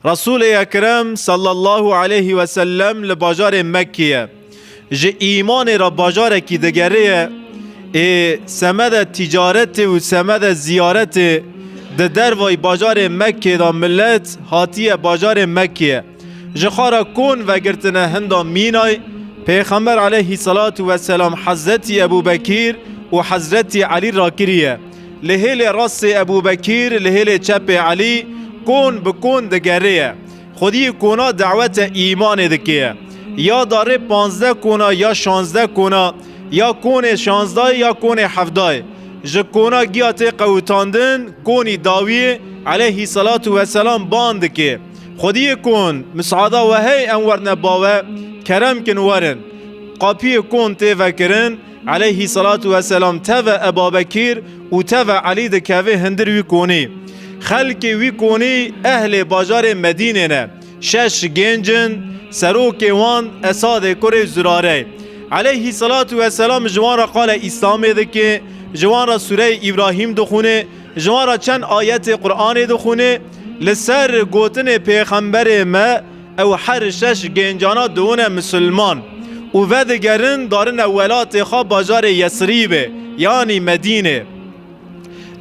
Resûlê Ekrem sallallahu aleyhi ve sellem li bajarê Mekkê ye. Ji îmanê re bajarekî digere ye ê semede tîcaretê û semede ziyaretê di dervayî bajarê Mekkê de milet hatiye bajarê Mekkê. Ji xara kon vegirtine hinda Mînay Pêxember aleyhî selatû weselam Hezretî Ebûbekîr û Hezretî Elî rakiriye. Li hêlê rastê Ebûbekîr, li hêlê çepê Elî kon bi kon digerêye. Xwedî kona dawete îmanê dikêye. Ya darê panzdeh kona ya şanzdeh kona, ya konê şanzdayê ya konê hevdayê. Ji kona giya tê qewitandin, konî dawiyê eleyhî selatu weselam bang dikê. Xwedî kon, misada we hey em werne bawe, kerem kin werin. Qapiyê kon tê vekirin. Eleyhî selatu weselam teve Ebabekîr û teve Elî dikeve hindir wî konî. Xelkê wî konî ehlê bajarê Medînê ne. Şeş gênc in, serokê wan Esadê kurê Zurare ye. Eleyhî selatu weselam ji wan re qale Îslamê dike, ji wan re sûreyê Îbrahîm dixwine, ji wan re çend ayetê Quranê dixwine. Li ser gotinê pêxemberê me, Ew her şeş gêncana dibûne misilman û vedigerin darine welatê xwe bajarê Yesrîbê yanî Medînê.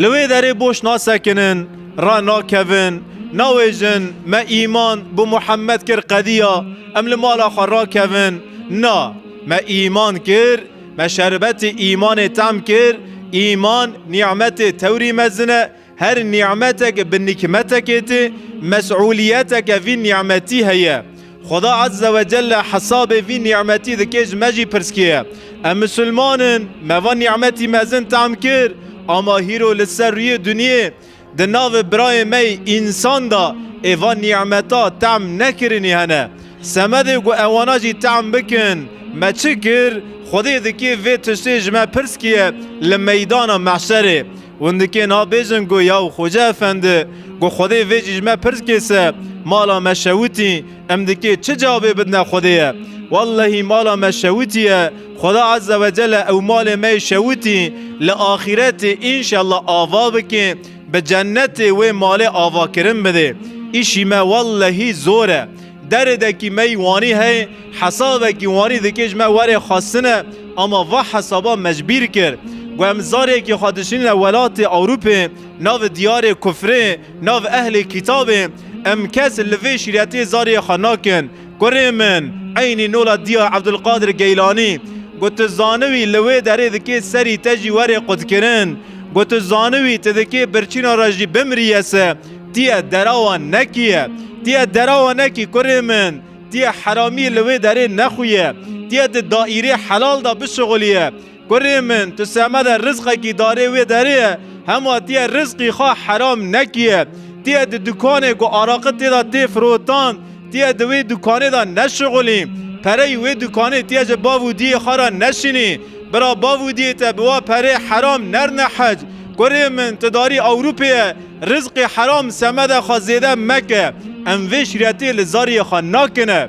Li wê derê boş nasekinin, ranakevin, nawêjin me îman bi Muhemed kir qediya em li mala xwe rakevin, na, me îman kir, me şerbetê îmanê tam kir, îman nîmetê tewrî mezin e, Her nî'meteke bi nîkmetekê tê, mes'ûlîyeteke vî nî'metî heye. Xweda Azze ve Celle hesabê vî nî'metî dike ji me jî pirsgêye. Em misilman in, me van nî'metî mezin te'm kir, ama hîro li ser rûyê dunyê di navê birayê me yê însan de ê van nî'meta te'm nekirinî hene. Semedê ku ewana jî te'm bikin, me çi kir? Xwedê dike vê tiştê ji me pirsgêye li meydana mehşerê. Hûn dikê nabêjin ku yaw Xoca Efendi, ku Xwedê vê jî ji me pirs kê se, mala me şewitî, em dikê çi cavê bidine Xwedê ye? Wellehî mala me şewitî ye, Xweda Eze ve Cele ew malê me yê şewitî li axîretê înşella ava bike, bi cennetê wê malê avakirin bide. Îşî me wellehî zor e. Deredekî me yî wanî heye, hesabekî wanî dike ji me were xwestine ama va hesaba mecbîr kir. Ku em zarekî xwe dişînîne welatê Ewrûpê, navê diyarê kufrê, navê ehlê kîtabê, em kes li vê şîretê zarê xwe nakin. Kurê min, eynî nola Diya Ebdulkadir Geylanî, ku tu zaniwî li wê derê dikê serî te jî were qutkirin, ku tu zaniwî tu dikê birçîna re jî bimrîye se, Tiye derawa nekiye. Tiye derawa nekî kurê min. Tiye heramî li wê derê nexuye. Tiye di daîrê helal de bişuxulîye. Kurê min tu semede rizqekî darê wê derê ye hema tiye rizqî xwe heram nekiye. Tiye di dukanê ku araqi tê de tê firotan tiye di wê dukanê de neşuxulî. Pereyî wê dukanê tiye ji bav û diyê xwe re neşînî. Bira bav û diyê te bi wa perê heram nerne hec. Kurê min tu darî Ewrûpê ye. Rizqê heram semedê xwe zêde meke, em vê şîretê li zariyê xwe nakin e.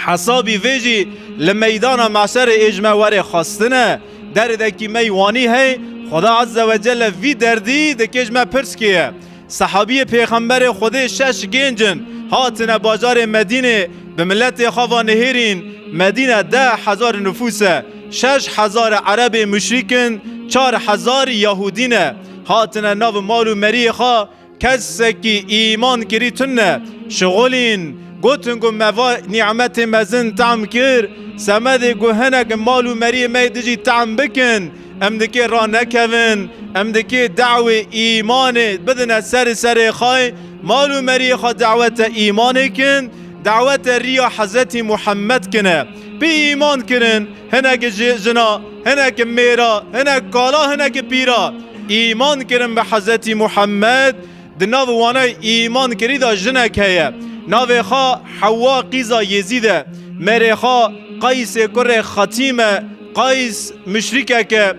Hesabî vê jî li meydana meşerê ê ji me were xwestin e. Derdekî me yî wanî hey, Xweda Ezze ve Celle vî derdî dikê ji me pirs kêye. Sehabiyê Pêxemberê Xwedê şeş gênc in, hatine bajarê Medînê, bi miletê xwe ve nihêrîn. Medîne deh hezar nifûs e. Şeş hezar erebê muşrîk in, çar hezar yahûdî ne. Hatine nav mal û meriyê xwe kesekî îman kirî tune. Şixulîn gotin ku me va nîmetê mezin tehm kir, semedê ku hinek mal û meriyê me dijî tehm bikin, em dikê ranekevin, em dikê dawê îmanê bidine serê serê xay, mal û meriyê xwe dawete îmanê kin, dawete riya Hezretî Muhammed kine. Pê îman kirin. Hinekî jî jina, hinekî mêra, hinek kala, hinekî pîra îman kirin bi Hezretî Muhemmed. Di nav wana îman kirî de jinek heye. Navê xwe Hewa qîza Yêzîd e. Mêrê xwe Qaysê kurê Xetîm e. Qays muşrîkek e.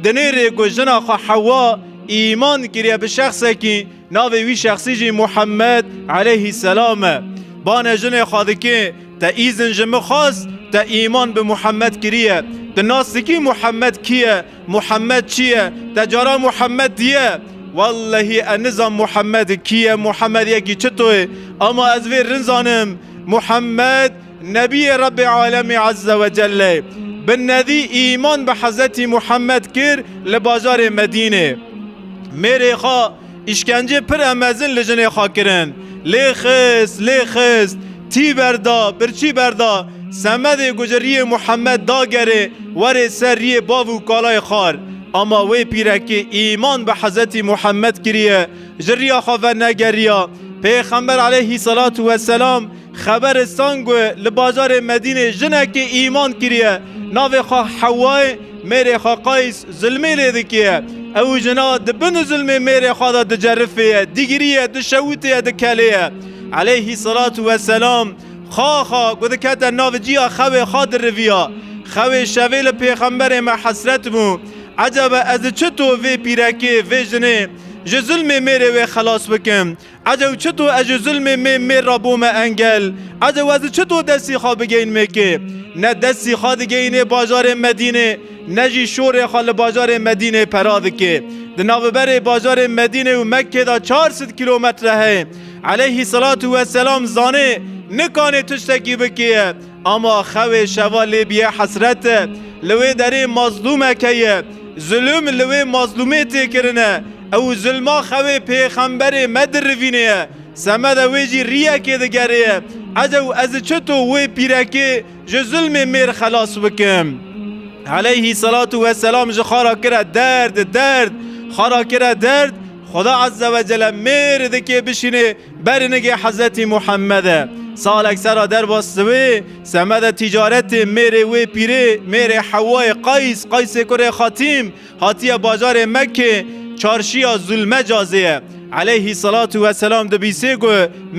Di nêrê ku jina xwe Hewa îman kiriye bi şexsekî, Navê wî şexsî jî Muhemmed eleyhî selam e. Bane jinê xwe dike, Te îzin ji min xwest, te îman bi Muhemmed kiriye. Tu nas dikî Muhemmed kî ye, Muhemmed çi ye? Te cara Muhemmed diye? Wellehî ez nizam Muhemmed kî ye, Muhemmed yekî çito ye. Ema ez vê rin zanim, Muhemmed, Nebiyê Rebbê Alemê Ezze ve Celle bi nedî îman bi Hezretî Muhammed kir li bajarê Medînê. Mêrê xwe îşkencê pir e mezin li jinê xwe kirin. Lê xist, lê xist, tî berda, birçî berda. Semedê ku ji riyê Muhammed dagerê werê ser riyê bav û kalayê xar. Ama wê pîrekê îman bi Hezretî Muhammed kiriye, ji riya xwe vernegeriya. Pêxember Eleyhî Selatû Weselam, Xeberê Sangue li bajarê Medînê jinekê îman kiriye navê xwe Hewayê mêrê xwe Qays zilmê lê dikiye. Ew û jina di bin zilmê mêrê xwe de dicerifê ye, digirî ye, dişewitê ye, dikelê ye. Eleyhî selatû we selam Xaxa ku dikete nav cîya xewê xwe diriviya. Xewê şevê li pêxemberê me hesret bû. Ecebe ez çito vê pîrekê, vê jinê ji zilmê mêrê wê xelas bikim? Edew çito ez ji zilmê mê mêr ra bome engel? Edew ez çito destî xwe bigeyîn mêkê? Ne destî xwe digeyînê bajarê Medînê ne jî şorê xwe li bajarê Medînê pera dikê. Di naviberê bajarê Medînê û Mekkê de çar sed kîlometre heye. Eleyhî selatû weselam zanê nikanê tiştekî bikêye. Ama xewê şeva lê bîye hesret e. Li wê derê mazlûmeke ye. Zulm li wê mazlûmê tê kirin e. Ew zulma xewê pêxemberê me dirivînê ye. Semede wê jî rîyekê digerê ye. Ez ew ez çito wê pîrekê ji zulmê mêr xelas bikim? Eleyhî selatu we selam ji xara kire derd, derd, xara kire derd, Xweda Ezzewecele mêr dikê bişînê, Berinigê Hezretî Muhemede salek sera derva siwê semeda tîcaretê mêrê wê pîrê mêrê Hewayê Qays, Qaysê kurê Xatîm, hatiye bajarê Mekkê çarşiya Zulmecazê ye. Eleyhî selatû we selam dibîsê ku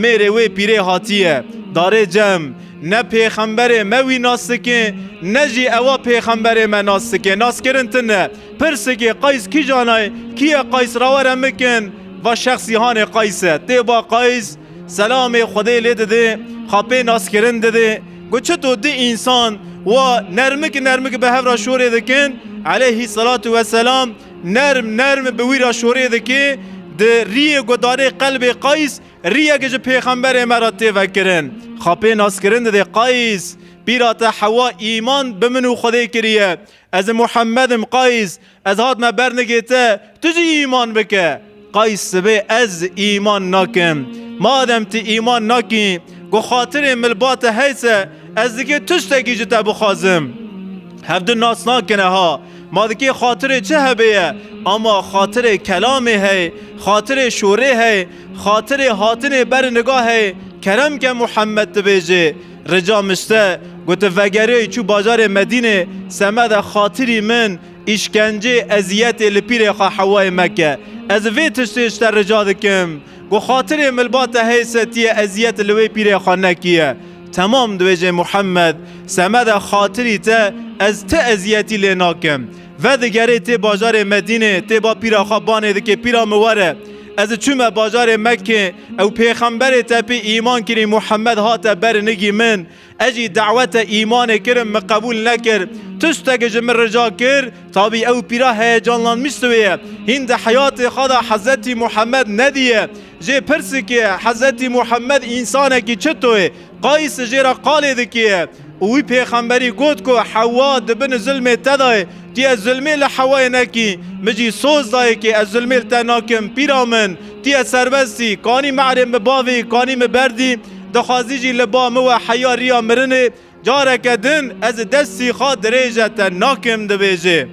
mêrê wê pîrê hatiye darê cem. Ne pêxemberê me wî nas dike ne jî ewa pêxemberê me nas dike. Naskirin tune. Pirsgê Qays kîjana ye? Kî ye Qays ra were mikin va şexsî hanê Qays e. Tê va Qays selamê Xwedê lê didê, xapê naskirin didê. Got çito di însan wa nermik nermik bi hev ra şorê dikin, Eleyhî selatû we selam nerm nerm bi wî ra şorê dikê, di rîyê guhdarê qelbê Qays rîyek ji pêxemberê me ra tê vekirin. Xapê naskirin didê Qays, Pîra te hewa îman bi min û Xwedê kiriye. Ez im Muhammed im Qays, ez hatime ber nigê te, tu jî îman bike. Qays sibê ez îman nakim. Madem tu îman nakî, ku xatirê milba te heys e, ez dikê tiştekî ji te bixwazim. Hev du nas nakine ha. Ma dikê xatirê çi hebê ye, ama xatirê kelamê hey, xatirê şorê hey, xatirê hatinê ber niga hey, kerem ke Muhammed dibêjê. Rica Miste gote vegerê çû bajarê Medînê semeda xatirî min îşkencê eziyetê li pîrê xwe Hewayê Mekke. Ez vê tiştê ji te rica dikim ku xatirê milba te hey setiye eziyet li wê pîrê xwe nekiye. Temam dibêje Muhemed semeda xatirî te ez ti eziyetî lê nakim. Vedigerê tê bajarê Medînê tê ba pîra xwe banê dikê pîra min were. Ez çûme bajarê Mekkê, ew pêxemberê te pê îman kirî Muhammed hate ber nigî min. Ez jî dawete îmanê kirim min qebûl nekir. Tu stegi ji min rica kir? Tabî ew pîra heyecanlanmîst wê ye. Hîn di heyatê xwe de Hezretî Muhammed nedîye. Jê pirsikê, Hezretî Muhammed însanekî çito ye? Qays jê re qalê dikiye û wî pêxemberî got ku Hewa di bin zilmê te de ye. Tî ez zilmê li Hewayê nekî, min jî soz dayekê ez zilmê li te nakim. Pîra min, tî ez serbest î. Kanî me erê min bavî, kanî min berdî. Dixwazî jî li ba min we heya riya mirinê. Careke din ez destî xwe dirêje te nakim dibêje.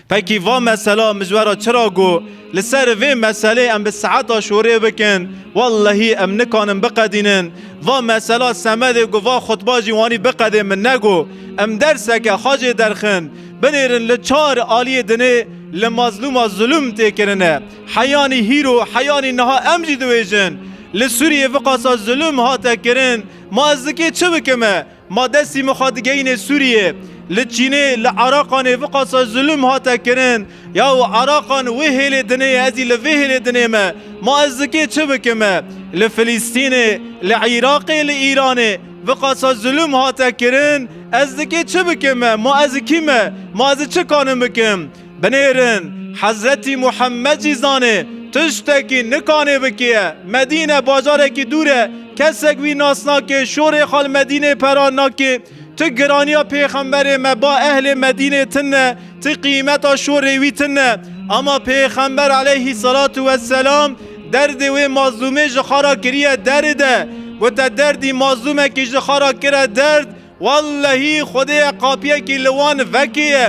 Peki va mesela mizwera çira go li ser vê meselê em bi saeta şorê bikin wellehî em nikanin biqedînin. Va mesela semedê go va xutba jî wanî biqedê min nego em derseke xacê derxin binêrin li çar aliyê dinê li mazlûma zulûm tê kirine heyanî hîro heyanî niha em jî diwêjin li Sûriyê viqasa zulûm hate kirin ma ez dikê çi bikim e Ma destî min xwe digeyînê Sûriyê. Li Çînê, li Eraqanê viqasa zulm hate kirin. Ya û Eraqan wê hêlê dinê ye, ez jî li vê hêlê dinê me. Ma ez di kê çi bikim e? Li Filîstînê, li Îraqê, li Îranê viqasa zulm hate kirin. Ez di kê çi bikim e? Ma ez kî me? Ma ez çi kanim bikim? Binêrin, Hezretî Muhemmed jî zanê, tiştekî nikanê bikêye. Medîne bajarekî dûr e, kesek wî nas nake, şorê xwe li Medînê pera nake. Ti giraniya pêxemberê me ba ehlê Medînê tin ne, ti qîmeta şorê wî tin ne. Ama pêxember eleyhî selatu we selam derdê wê mazlûmê ji xwe re kiriye deride. Gote derdî mazlûmekî ji xwe re kire derd, Wellehî xwedêya qapiyekî li wan vekê ye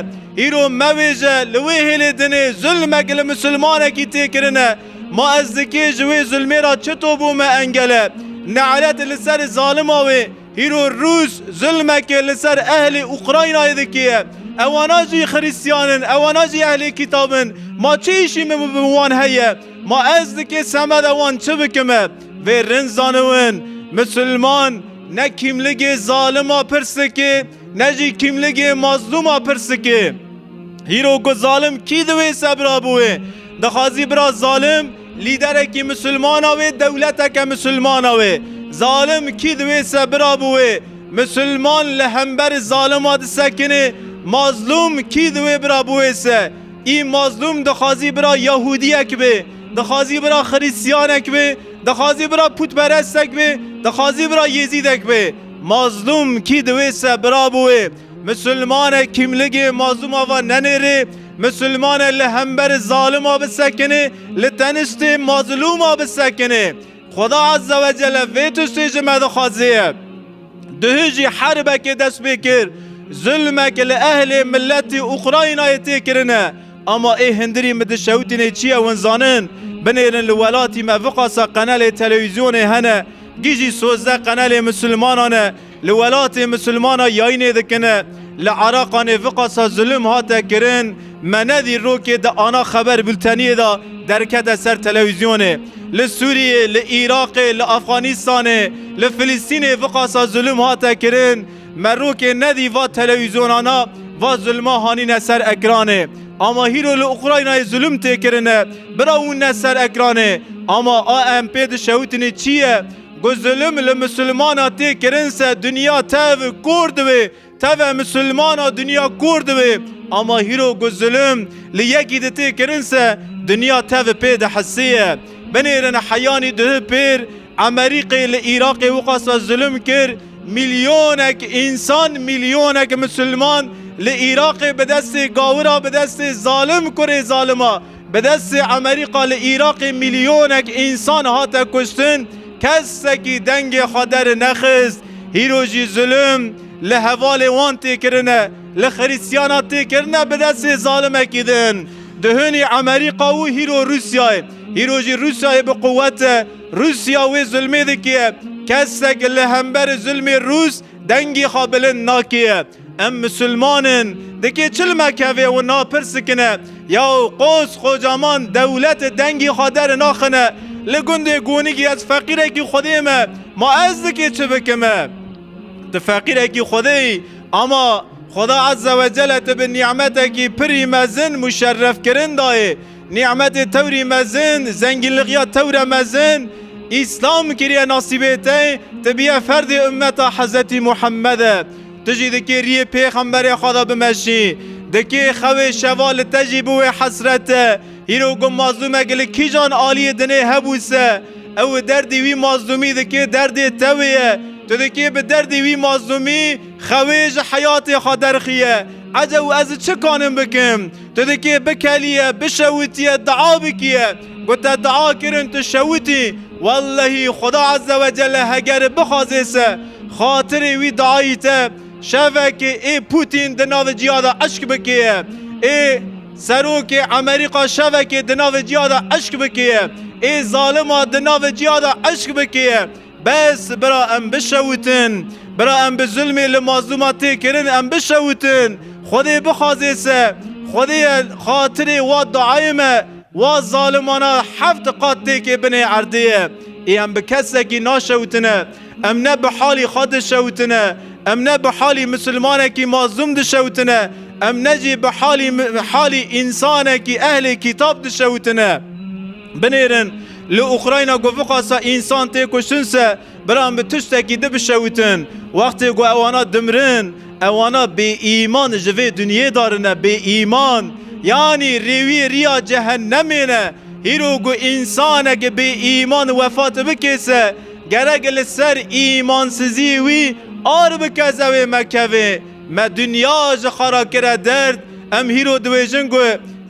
îro mevêje li wê hêlê dinê zulmek li misilmanekî tê kirine ma ez dikê ji wê zulmê ra çito bo me engele ne'let li ser zalima wê îro rûs zulmekê li ser ehlê ukraynayê dikê ye ewana jî xirîstiyan in ewana jî ehlê kîtab in ma çi îşî min bi wan heye ma ez dikê semeda wan çi bikim e vê rind zaniwin misilman Ne kîmligê zalima pirsikê, ne jî kîmligê mazlûma pirsikê. Hîro ku zalim kî di wê sebra bi wê dixwazî bira zalim lîderekî misilmana wê dewleteke misilmana wê. Zalim kî di wê sebira bi wê misilman li hember zalima disekinê, mazlûm kî di wê bira bi wê se. Î mazlûm dixwazî bira yahûdiyek bê, dixwazî bira xirîsyanek bê, Dixwazî bira pûtperestek bê, dixwazî bira Yêzîdek bê. Mazlûm kî di wê se bira bû wê. Misilman e kîmligê mazlûma va nenêrê, misilman e li hember zalima bisekinê, li tenistê mazlûma bisekinê. Xweda Ezze ve Celle vê tiştê ji me dixwazê ye. Duhî jî herbekê dest pê kir, zilmek li ehlê miletî Ukraynayê tê kirine. Ama ê hindirî min di şewitînê çi ye win zanin? Binêrin li welatî me viqasa qenelê telewîzyonê hene. Gijî sozdeh qenelê misilmanan e. Li welatê misilmana yayînê dikine. Li Eraqanê viqasa zilim hate kirin. Me ne dî rokê di ana xeber bulteniyê de derkete ser telewîzyonê. Li Sûriyê, li Îraqê, li Efxanîstanê, li Filistînê viqasa zilim hate kirin. Merokê nedî va telewîzyonana va zulma hanîne ser ekranê. Ama hîro li Ukraynayê zulm tê kirine, birawîne ser ekranê. Ama ANP dişewitînê çi ye? Ku zulm li misilmana tê kirin se dinya tev kor dibe, teve misilmana dinya kor dibe. Ama hîro ku zulm li yekî di tê kirin se dinya tev pê dihisiye. Binêrin heyanî duh pêr Emerîqê li Îraqê wixwasa zulm kir, Milyonek însan, milyonek misilman li Îraqê bi destê gawira, bi destê zalim kurê zalima, bi destê Emerîqa li Îraqê milyonek însan hate kuştin, kesekî dengê xwe dernexist. Hîro jî zulm li hevalê wan tê kirine, li xirîstiyana tê kirine bi destê zalimekî din. Duhunî Emerîqa û hîro Rûsyayê. Hîro jî Rûsyayê bi quwet e. Rûsya wê zilmê dikiye. Kesek li hemberî zilmê Rûs dengê xwe bilind nakiye. Em misilman in. Dikê çil mekeve û napirsîkine. Yaw qos qocaman dewlete dengê xwe deri naxine. Li gundê Gonigî ez feqîrekî xwedê me. Ma ez dikê çi bikime? Tu feqîrekî xwedê yî. Ama Xweda Ezzewecelle te bi nîmetekî pirî mezin muşerrefkirin dayê. Nî'metê tewrî mezin, zengînligiya tewre mezin, Îslam kiriye nasîbê te, tu biye ferdê ummeta Hezretî Muhammed de. Tu jî dikê rîyê Pêxemberê xwe de bimeşî. Dikê xewê şeva li te jî biwê hesret e. Hîro ku mazlûmek li kîjan aliyê dinê hebû se, ew û derdê wî mazlûmî dikê derdê te wê ye. Tu dikê bi derdê wî mazlûmî xewê ji heyatê xwe derxîye. Ecê û ez çi kanim bikim? Tu dikê bikelîye, bişewitîye, dua bikîye. Ku te dua kirin tu şewitî, wellehî Xweda Ezze ve Celle hegeri bixwazê se xatirê wî duayî te şevekê ê Pûtîn di navê cîya de eşk bikêye, ê serokê Emerîka şevekê di navê cîya de eşk bikêye, ê zalima di navê cîya de eşk bikêye. Bes, bira em bişewutin. Bira em bi zulmê li mazlûma tê kirin em bişewutin. Xwedê bixwazê se. Xwedê ye xatirê wa duayê me wa zalimana heft qat têkê binê erdê ye. Ê em bi kesekî naşewitine. Em ne bi halî xwe dişewitine. Em ne bi halî misilmanekî mazlûm dişewitine. Em ne jî bi halî halî însanekî ehlê kîtab dişewitine. Binêrin, li Ukrayna ku viqasa însan tê kuştin se, biran bi tiştekî di bişewitin. Wextê ku ewana dimirin, ewana bêîman ji vê dinyê darine bêîman. Yanî rêwî riya cehennemê ne. Hîro ku însaneke bêîman wefat bike se, gerek li ser îmansizî wî ar bike zewê me keve. Me dinya ji xwe re kire derd. Em hîro dibêjin ku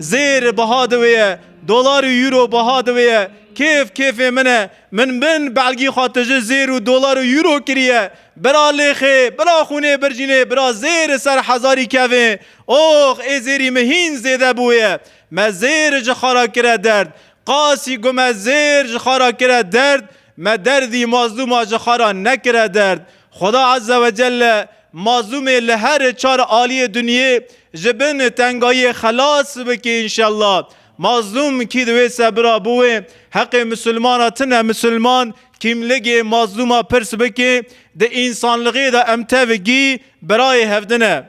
zêr biha di wê ye. Dolar û Euro biha di wê ye. Kêf kêfê min e. Min bin belgî xwe tije zêr û dolar û Euro kiriye. Bira lêxê, bira xûnê bircînê, bira zêr li ser hezarî kevê. Ox ê zêrî min hîn zêde bûye. Me zêr ji xwe re kire derd. Qasî ku me zêr ji xwe re kire derd, me derdî mazlûma ji xwe re nekire derd. Xweda Ezzewecelle Mazlûmê li her çar aliyê dinyê ji bin tengayiyê xelas bikî înşellah. Mazlûm kî di wê sebira bo wê heqê misilmana tine misilman kîmligê mazlûma pirs bikê di însanlighê de em tevigî birayê hevdine.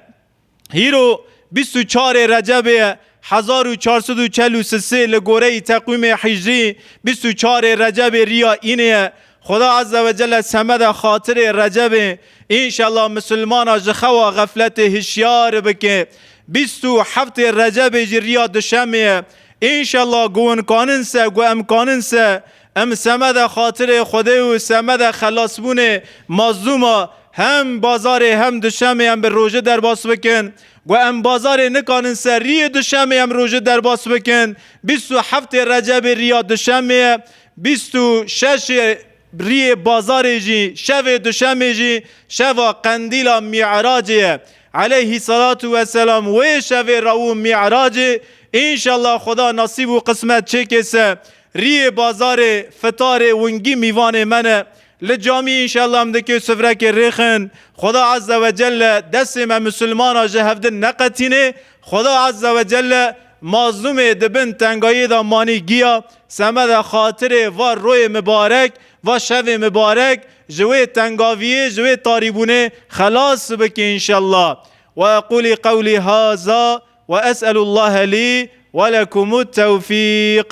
Hîro bîst û çarê recebê ye Hezar û çar sed û çel û sisê li goreyî teqwîmê hîcrî bîst û çar ê Recebê rîya înê ye. Xuda Azze ve Celle semede xatirê Recebê înşella misilmana ji xewa xefletê hişyar bike. Bîst û heft ê Recebê jî rîya duşemê ye. Înşella guwin kanin se gu em kanin se em semede xatirê Xwedê û semede xelasbûnê mazlûma hem bazarê hem duşemê em bi roje derbas bikin. Ku em bazarê nikanin ser rîyê duşemê em rojê derbas bikin, bîst û heftê recebê rîya duşemê ye, bîst û şeşê rîyê bazarê jî, şevê duşemê jî şeva qendîla mî'racê ye. Eleyhî selatû we selam wê şevê rawû mî'racê înşellah Xweda nasîb û qismet çêkê se rîyê bazarê fitarê wingî mîvanê me ne. Li camî înşellah em dikê sufrekê rêxin. Xweda Azze ve Celle destê me Musulmanan ji hevdin neqetînê. Xweda Azze ve Celle mazlûmê di bin tengayê de manî giya. Semede xatirê va royê mibarek, va şevê mibarek ji wê tengaviyê, ji wê tarîbûnê xelas bike înşellah. Ve eqûlî qewlî haza ve es'elûllahe lî ve lekumût tewfîq.